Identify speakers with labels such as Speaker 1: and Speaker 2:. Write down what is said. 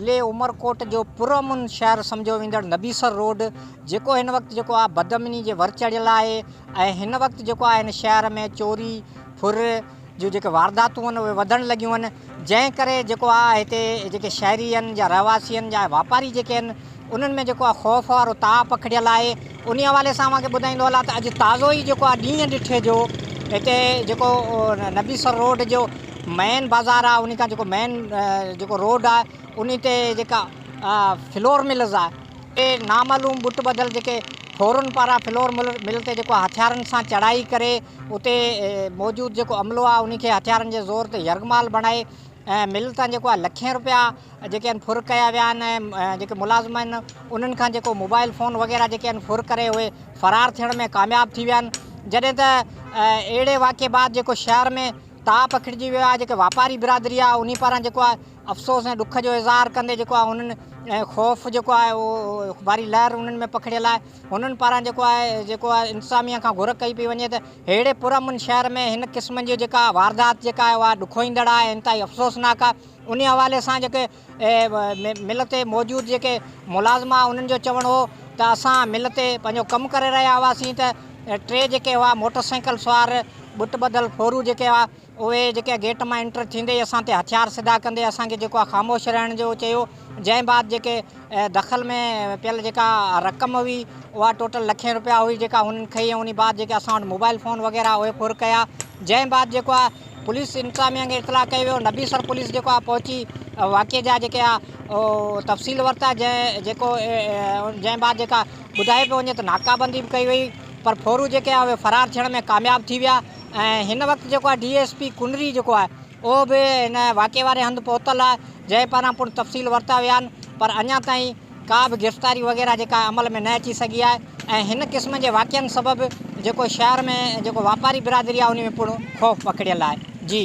Speaker 1: ضلعي عمرڪوٽ جو پرامن شهر سمجهيو ويندڙ نبيسر روڊ جيڪو هن وقت جيڪو آهي بدامني جي ور چڙهيل آهي ۽ هن وقت جيڪو آهي هن شهر ۾ چوري ڦر جون جيڪي وارداتون آهن اهي وڌڻ لڳيون آهن جنهن ڪري جيڪو آ هتي جيڪي شهري هن يا رهواسي هن يا واپاري جيڪي هن انهن ۾ جيڪو آ خوف وارو تاء پکڙيل آهي انهي حوالي سان اوهان کي ٻڌائيندو هلان ته اڄ تازو ئي جيڪو آ ڏينهن ڏٺي جو هتي جيڪو نبي سر روڊ جو مين بازار آ انهي کان جيڪو مين جيڪو روڊ آ انهي تي جيڪا فلور ملز آ تي نامعلوم ٻٽ ٻڌل جيڪي ڦورن پاران فلور مل تي جيڪو آ هٿيارن سان چڙهائي ڪري اتي موجود جيڪو عملو آهي ان کي هٿيارن جي زور تي يرغمال بڻائي مل تان جيڪو آهي لکين روپيا جيڪي آهن ڦر ڪيا ويا آهن ۽ جيڪي ملازم آهن انهن کان جيڪو موبائل فون وغيره جيڪي آهن ڦر ڪري اهي فرار ٿيڻ ۾ ڪامياب ٿي ويا آهن جڏهن ته اهڙي واقعي بعد جيڪو شهر ۾ تاء پکڙجي ويو آهي جيڪي واپاري برادري آهي انهي پاران جيڪو آهي افسوس ۽ ڏک جو اظهار ڪندي جيڪو آهي انهن ۽ خوف جيڪو آهي اهو واري لهر انهن ۾ پکڙيل آهي انهن پاران جيڪو آهي جيڪو آهي انتظاميه کان گهر ڪئي پئي وڃي ته ههڙي پر امن شهر ۾ هن قسم جي جيڪا واردات جيڪا آهي اها ڏکوئيندڙ آهي انتهائي افسوسناڪ آهي انهي حوالي سان جيڪي مل تي موجود جيڪي ملازم آهي انهن جو چوڻ هو ته اسان مل تي پنهنجو ڪم ڪري رهيا هئاسين ته ٽي جيڪي هئا موٽر سائيڪل سوار ٻٽ ٻڌل ڦورو جيڪي هئا اهي جيڪي گيٽ مان انٽر ٿيندي ئي اسان تي هٿيار سڌا ڪندي اسان کي جيڪو آ خاموش رهڻ جو چيو جنهن بعد جيڪي دخل ۾ پيل جيڪا رقم هئي اها ٽوٽل لکين روپيا هئي جيڪا هنن کئي ۽ انهي بعد جيڪي اسان وٽ موبائل فون وغيره اهي ڦر ڪيا جنهن بعد جيڪو آ پوليس انتظاميا کي اطلاع ڪيو ويو نبيسر پوليس جيڪو آ پهچي واقعي جا جيڪي آ تفصيل ورتا جنهن جيڪو جنهن بعد جيڪا ٻڌايو پيو وڃي ته ناڪابندي به ڪئي وئي پر ڦورو جيڪي آ اهي فرار ٿيڻ ۾ ڪامياب ٿي ويا ۽ هن وقت جيڪو آهي ڊي ايس پي ڪنري جيڪو آهي اهو به هن واقعي واري هنڌ پهتل آهي جنهن پاران پڻ تفصيل ورتا ويا آهن پر اڃا تائين ڪا به گرفتاري وغيره جيڪا عمل ۾ نه اچي سگهي آهي ۽ هن قسم جي واقعن سبب جيڪو شهر ۾ جيڪو واپاري برادري آهي ان ۾ پڻ خوف پکڙيل آهي جي